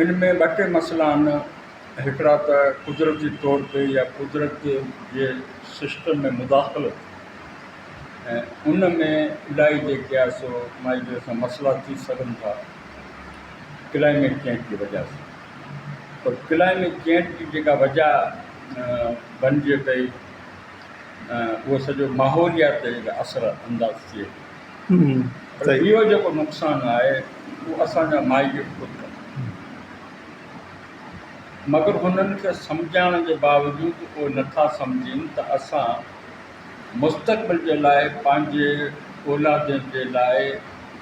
ان ۾ ٻه ٽي مسئلا آهن هڪڙا ته قدرتي طور تي يا قدرت جي سسٽم ۾ مداخلو ۽ ان ۾ الائي جيڪي آهي سو مائيجور سان مسئلا ٿي سگهن ٿا ڪلائميٽ چينج جي وجه سان پر ڪلائميٽ چينج جي جيڪا وجه بنجي پئي اهو سڄو ماحوليات تي اثر انداز ٿئي پر اهو جيڪو نقصان آهي اهو اسان جا مائي پيء خود ڪندا مگر هنن کي سمجهائڻ جي باوجود اهي نٿا سمجهين ته اسان مستقبل جي لاء پنهنجي اولادين جي لاء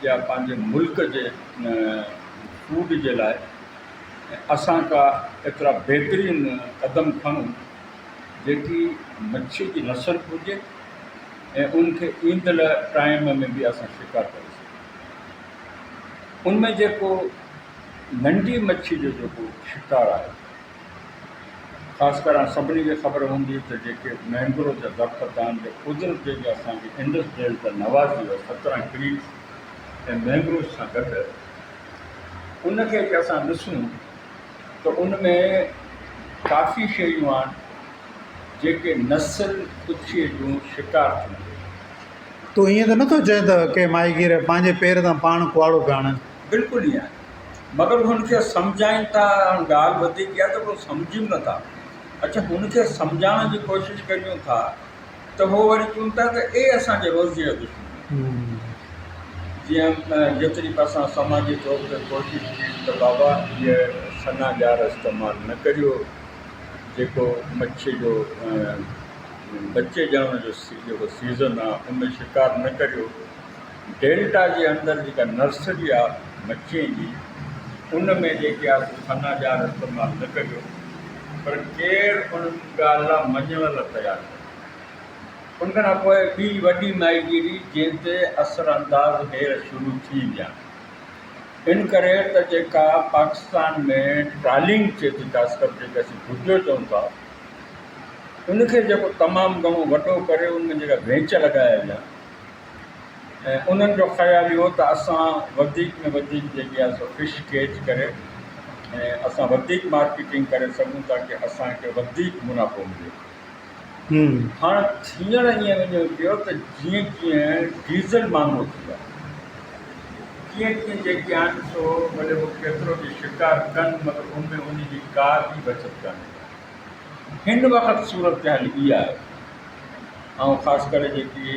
يا پنهنجي ملڪ جي فوڊ جي لاء اسان ڪا ايترا بهترين قدم کڻون جيڪي مڇي جي نسل گهرجي ۽ ان کي ايندڙ ٽائيم ۾ به اسان شڪار ڪري سگهون ان ۾ جيڪو ننڍي مڇي جو جيڪو شڪار آهي خاص ڪري هاڻ سڀني کي خبر هوندي ته جيڪي مينگرو جا درخت آهن جي قدرت جيڪي اسانکي انڊس ڊيل ته نوازي هو سترهن ٽريز ۽ مينگروز سان گڏ ان کي جي اسان ڏسون ته ان ۾ ڪافي شيون آهن جيڪي نسل ڪڇيء جون شڪار ٿيون ويون. تون ائين ته نٿو چئين ته ڪي ماهيگير پنهنجي پير تان پاڻ ڪهاڙو پيا هڻن؟ بلڪل ائين آهي. مگر هن کي سمجهائين ٿا. هاڻ ڳالهه وڌيڪ اها آهي ته اهي سمجهين نٿا. اچ هن کي سمجهائڻ جي ڪوشش ڪريون ٿا ته هو وري چون ٿا ته اي اسان جي روزيء جا دشمنو! جيئن جيتري به اسان سماجي طور تي ڪوشش ڪئي ته بابا هيء سنا ڄار استعمال نه ڪريو، جيڪو مڇيء جو ٻچي ڄڻڻ جو جيڪو سيزن آهي، ان ۾ شڪار نه ڪريو. ڊيلٽا جي اندر جيڪا نرسري آ مڇين جي ان ۾ جيڪي آ سو سنا ڄار استعمال نه ڪجو پر ڪير ان ڳالهه لا مڃڻ لا تيار ڪونهي ان کان پوء ٻي وڏي ماهيگيري جنهن تي اثر انداز هير شروع ٿي ويا ان ڪري ته جيڪا پاڪستان ۾ ٽرالنگ ٿئي ٿي خاص ڪر جيڪا اسين ڀٽيو چئون ٿا ان کي جيڪو تمام گهڻو وڏو ڪري ان ۾ جيڪا وينچ لڳايا ويا ۽ انهن جو خيال اهو ته اسان وڌيڪ ۾ وڌيڪ جيڪي آهي سو فش ڪيچ ڪري ۽ اسان وڌيڪ مارڪيٽنگ ڪري سگهون ٿا ڪي اسانکي وڌيڪ منافعو ملي هاڻ ٿيڻ ائين وڃي پيو ته جيئن جيئن ڊيزل مهانگو ٿي ويو تيئن تيئن جيڪي آهن سو ڀلي هو ڪيترو به شڪار ڪن مگر ان ۾ ان جي ڪا به بچت ڪانهي هن وقت صورتحال اها آهي ۽ خاص ڪري جيڪي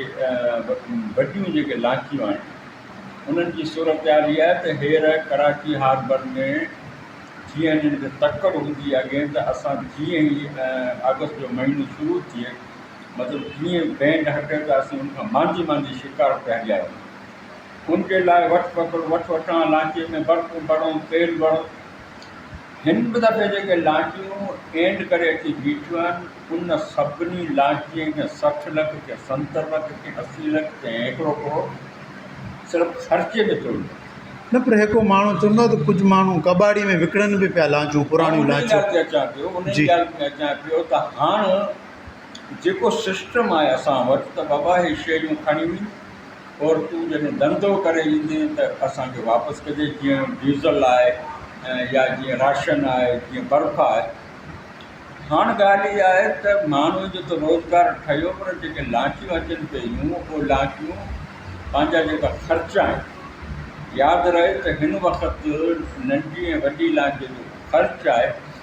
وڏيون جيڪي لانچيون آهن انهن جي صورتحال اها آهي ته هير ڪراچي هاربر ۾ جيئن هنن کي تڪڙ هوندي اڳي ته اسان جيئن ئي آگسٽ جو مهينو شروع ٿئي مطلب جيئن بينڊ هٽي ته اسين ان کان مانڌي مانڌي شڪار پيا ڄائون ان جي لاء وٺ پڪڙ وٺ وٺان لانچي ۾ برتن ڀرئون تيل ڀرئون هن به دفعي جيڪي لانچون اينڊ ڪري اچي بيٺيون آهن، ان سڀني لانچين ڪنهن سٺ لک، ڪنهن ستر لک، ڪنهن اسي لک، ڪنهن هيڪڙو ڪروڙ صرف خرچي ۾ ٿيو هوندو. نه پر هيڪڙو ماڻهو چوندو ته ڪجهه ماڻهو ڪٻاڙي ۾ وڪڻن به پيا لانچون، پراڻيون لانچون. ماڻهو ان ڳالهه تي اچان پيو، ان ڳالهه تي اچان پيو ته هاڻ جيڪو سسٽم آهي اسان وٽ ته بابا هي شيريون کڻي وڃ، اور تون جڏهن ڌنڌو ڪري ايندين ته اسان کي واپس ڪجي جيئن ڊيزل آهي يا جيئن راشن آهي جيئن برف آهي هاڻ ڳالهه اها آهي ته ماڻهن جو ته روزگار ٺهيو پر جيڪي لانچون اچن پيون اهي لانچون پنهنجا جيڪا خرچ آهن ياد رهي ته هن وقت ننڍي ۽ وڏي لانچ جو خرچ آهي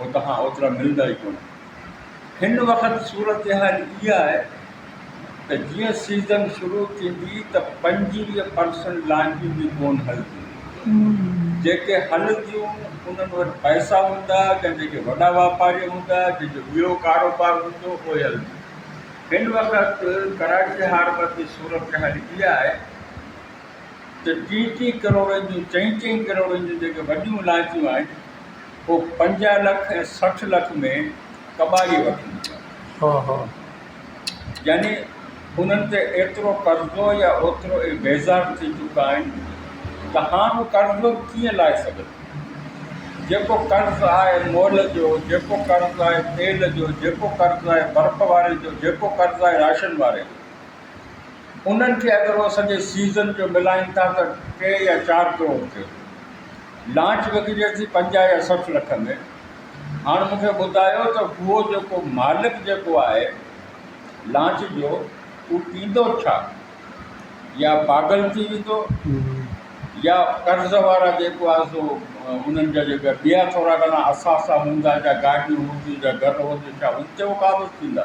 اتان اوترا ملندا ئي ڪونهن. هن وقت صورتحال اها آهي ته جيئن سيزن شروع ٿيندي ته پنجويهه پرسنٽ لانچون به ڪونه هلنديون. جيڪي هلنديون انهن وٽ پئسا هوندا يا جيڪي وڏا واپاري هوندا، جن جو ٻيو ڪاروبار هوندو، اهي هلنديون. هن وقت ڪراچي هاربر جي صورتحال اها آهي. ته ٽي ٽي ڪروڙن جون چئين چئين ڪروڙن جون جيڪي وڏيون علائقيون آهن هو پنجاهه لک ۽ سٺ لک ۾ ڪٻاري وٺنديون يعني انهن تي ايترو قرضو يا اوترو اهي بيزار ٿي چڪا آهن ته هاڻ هو قرضو به ڪيئن لاهي سگهن جيڪو قرض آهي مول جو جيڪو قرض آهي تيل جو جيڪو قرض آهي برف واري جو جيڪو قرض آهي راشن واري جو انهن کي اگر اهي سڄي سيزن جو ملائين ٿا ته ٽي يا چار ڪروڙ ٿئي ٿو. لانچ وڪجي ٿي پنجاهه يا سٺ لک ۾. هاڻ مون کي ٻڌايو ته هو جيڪو مالڪ جيڪو آهي لانچ جو هو پيندو ڇا؟ يا پاڳل ٿي ويندو يا قرض وارا جيڪو آهي سو انهن جا جيڪا ٻيا ٿورا گهڻا اثاثا هوندا جا گاڏيون هونديون جا گهر هونديون ڇا هن تي هو قابض ٿيندا؟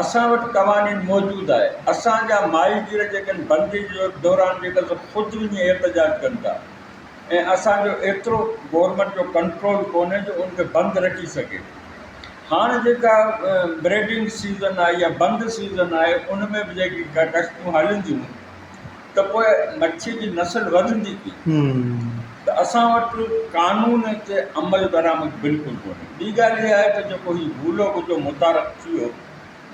اسان وٽ قوانين موجود آهي، اسان جا ماهيگير جيڪن بندي جي دوران جيڪن سو خود وڃي احتجاج ڪن ٿا ۽ اسان جو ايترو گورنمينٽ جو ڪنٽرول ڪونهي جو ان کي بند رکي سگهي هاڻ جيڪا بريڊنگ سيزن آهي يا بند سيزن آهي ان ۾ به جيڪي ڪشتيون هلن ٿيون ته پوء مڇي جي نسل وڌندي ڪيئن؟ ته اسان وٽ قانون تي عملدرآمد بلڪل ڪونهي. ٻي ڳالهه اها آهي ته جيڪو هي ڀولو ٻڌو متعارف ٿي ويو،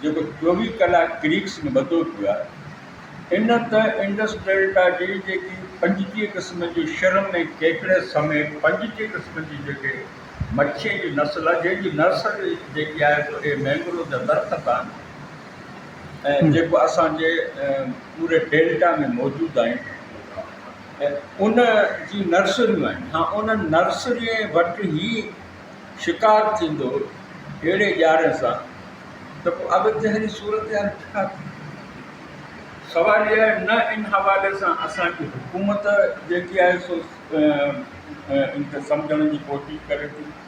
جيڪو چوويهه ڪلاڪ ڪريڪس ۾ ٻڌو پيو آهي، ان ته انڊس ڊيلٽا جي جيڪي پنجٽيهه قسمن جون شرم ۽ ڪيڪڙي سميت پنجٽيهه قسمن جي جيڪي مڇيء جي نسل آهي، جنهن جي نرسري جيڪي آهي سو اهي مينگروو جا درخت آهن، ۽ جيڪو اسان جي پوري ڊيلٽا ۾ موجود آهن ۽ ان جي نرسريون آهن ها انهن نرسري وٽ هي شڪار ٿيندو اهڙي ڄاري سان ته پوء اڳتي هلي صورت حال ڇا ٿي سوال اهي آهي نه ان حوالي سان اسان جي حڪومت جيڪي آهي سو ان کي سمجهڻ جي ڪوشش ڪري ٿي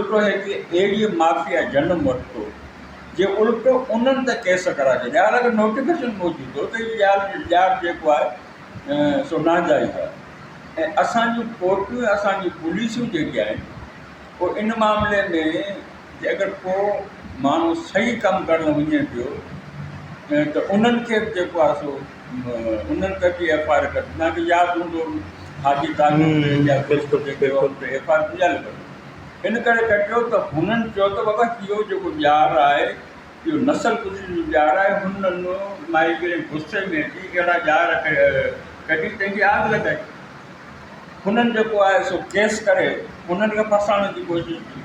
الٽو هي ڪي اهڙي مافيا جنم ورتو جي الٽو انهن ته ڪيس ڪرائي ڇڏيا هان اگر نوٽيفڪيشن موجود هو ته هي ڄار ڄار جيڪو آهي سو ناجائز آهي ۽ اسان جون ڪورٽون ۽ اسان جون پوليسون جيڪي آهن هو ان معاملي ۾ جي اگر ڪو ماڻهو صحيح ڪم ڪرڻ وڃي پيو ته انهن کي به جيڪو آهي سو انهن ڪجي ايف آر ڪجي توهان کي ياد هوندو حاجي ان ڪري ڪجيو ته هنن چيو ته بابا اهو جيڪو ڄار آهي اهو نسل ڪشي جو ڄار آهي هنن مائگرين غصي ۾ اچي اهڙا ڄار ڪڍي تنهنجي آگ لڳائي هنن جيڪو آهي سو ڪيس ڪري انهن کي ڦاسائڻ جي ڪوشش ڪئي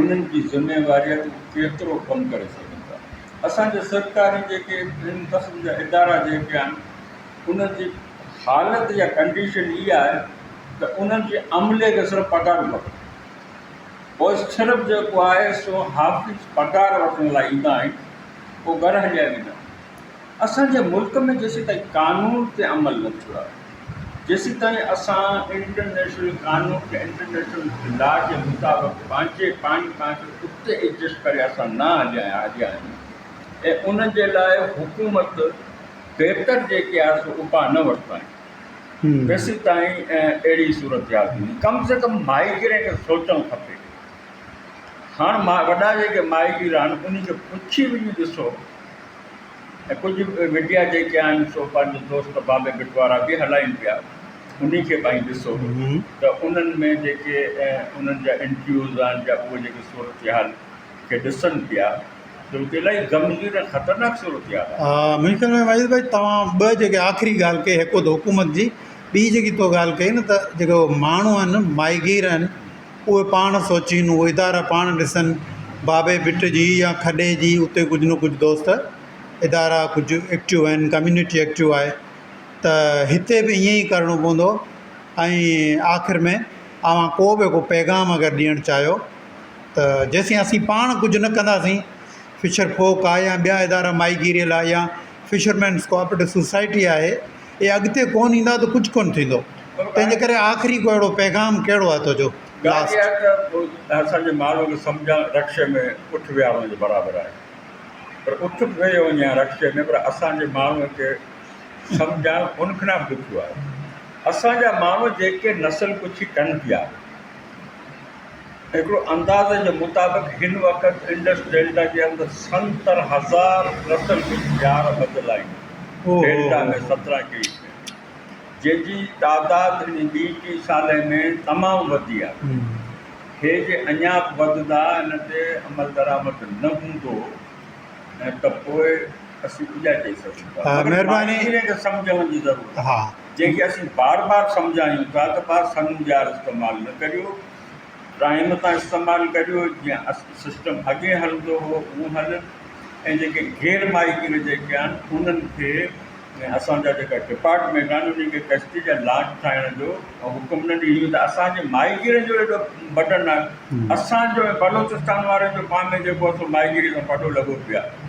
انهن جي ذميوارين ڪيترو ڪم ڪري سگهن ٿا اسان جي سرڪاري جيڪي ان قسم جا ادارا جيڪي آهن انهن جي حالت يا ڪنڊيشن هي آهي ته انهن جي عملي کي صرف پگهارون کپن پوء صرف جيڪو آهي سو حافظ پگهار وٺڻ لاء ايندا آهن پوء گهر هليا ويندا آهن اسان جي ملڪ ۾ جيسيتائين قانون تي عمل نه ٿيو آهي جيسيتائين اسان انٽرنيشنل قانون کي انٽرنيشنل لا جي مطابق پنهنجي پاڻ پاڻ کي اتي ايڊجسٽ ڪري اسان نه هليا هليا آهيون ۽ ان جي لاء حڪومت بهتر جيڪي آهي سو اپاء نه ورتا آهن جيسيتائين اهڙي صورتحال ٿيندي ڪم سي ڪم ماهيگيرن کي سوچڻ کپي هاڻ وڏا جيڪي ماهيگير آهن انهن کي پڇي وڃي ڏسو ۽ ڪجهه ميڊيا جيڪي آهن سو پنهنجو دوست بابي بٽوارا به هلائين پيا انهي کي به ڏسو ته انهن ۾ جيڪي انهن جا انٽرويوز آهن جا اهي جيڪي صورتحال کي ڏسن پيا ته هو ته الاهي غمگين ۽ خطرناڪ صورتحال آهي. منهنجي خيال ۾ واحد ڀائي توهان ٻه جيڪي آخري ڳالهه ڪئي هڪ هو ته حڪومت جي ٻي جيڪي تو ڳالهه ڪئي نه ته جيڪو ماڻهو آهن ماهيگير آهن اهي پاڻ سوچين، اهي ادارا پاڻ ڏسن، بابي ڀٽ جي يا کڏي جي اتي ڪجهه نه ڪجهه دوست ادارا ڪجهه ايڪٽو آهن، ڪميونٽي ايڪٽو آهي ته هتي به ائين ئي ڪرڻو پوندو ۽ آخر ۾ اوهان ڪو به هڪ پيغام اگر ڏيڻ چاهيو ته جيسين اسين پاڻ ڪجهه نه ڪنداسين فشر ڦوڪ آهي يا ٻيا ادارا ماهي گيريء لاء يا فشرمينس ڪوآپريٽو سوسائٽي آهي اي اڳتي ڪون ايندا ته ڪجھ ڪون ٿيندو تنهنجي ڪري آخري ڪو اهڙو پيغام ڪهڙو آهي تنهنجو ڳالهه اها آهي ته اسان جي ماڻهو کي سمجهڻ رڪشي ۾ اٺ ويهارڻ جي برابر آهي پر اٺ به ويهي وڃي هان رڪشي ۾ پر اسان جي ماڻهو کي سمجهڻ ان کان به ڏکيو آهي اسان جا ماڻهو جيڪي نسل ڪڇي ڪن پيا هڪڙو اندازي جي مطابق هن وقت انڊس ڊيلٽا جي اندر ستر هزار نسل جون ڄار ٻڌل آهن، ڊيلٽا ۾ سترهن ڪيئي ٿيون، جن جي تعداد هن ٻي ٽي سالي ۾ تمام وڌي آهي. هي جي اڃا به وڌندا، ان تي عملدرآمد نه هوندو ته پوء اسين ڪجا چئي سگهون ٿا، مگر ماهرين کي سمجهڻ جي ضرورت آهي. جنهن کي اسين بار بار سمجهايون ٿا ته ڀاء سنڱ ڄار استعمال نه ڪريو، ڊرائيم تان استعمال ڪريو، جيئن سسٽم اڳي هلندو هو اهو هلن ۽ جيڪي غير ماهيگير جيڪي آهن انهن کي ۽ اسان جا جيڪا ڊپارٽمينٽ آهن انهن کي ڪشتي جا لانچ ٺاهڻ جو حڪم نه ڏيجو ته اسان جي ماهيگيرن جو ايڏو بٽن آهي اسان جو ۽ بلوچستان وارن جو پام ۾ جيڪو آهي سو ماهيگيري سان پٽو لڳو پيو آهي.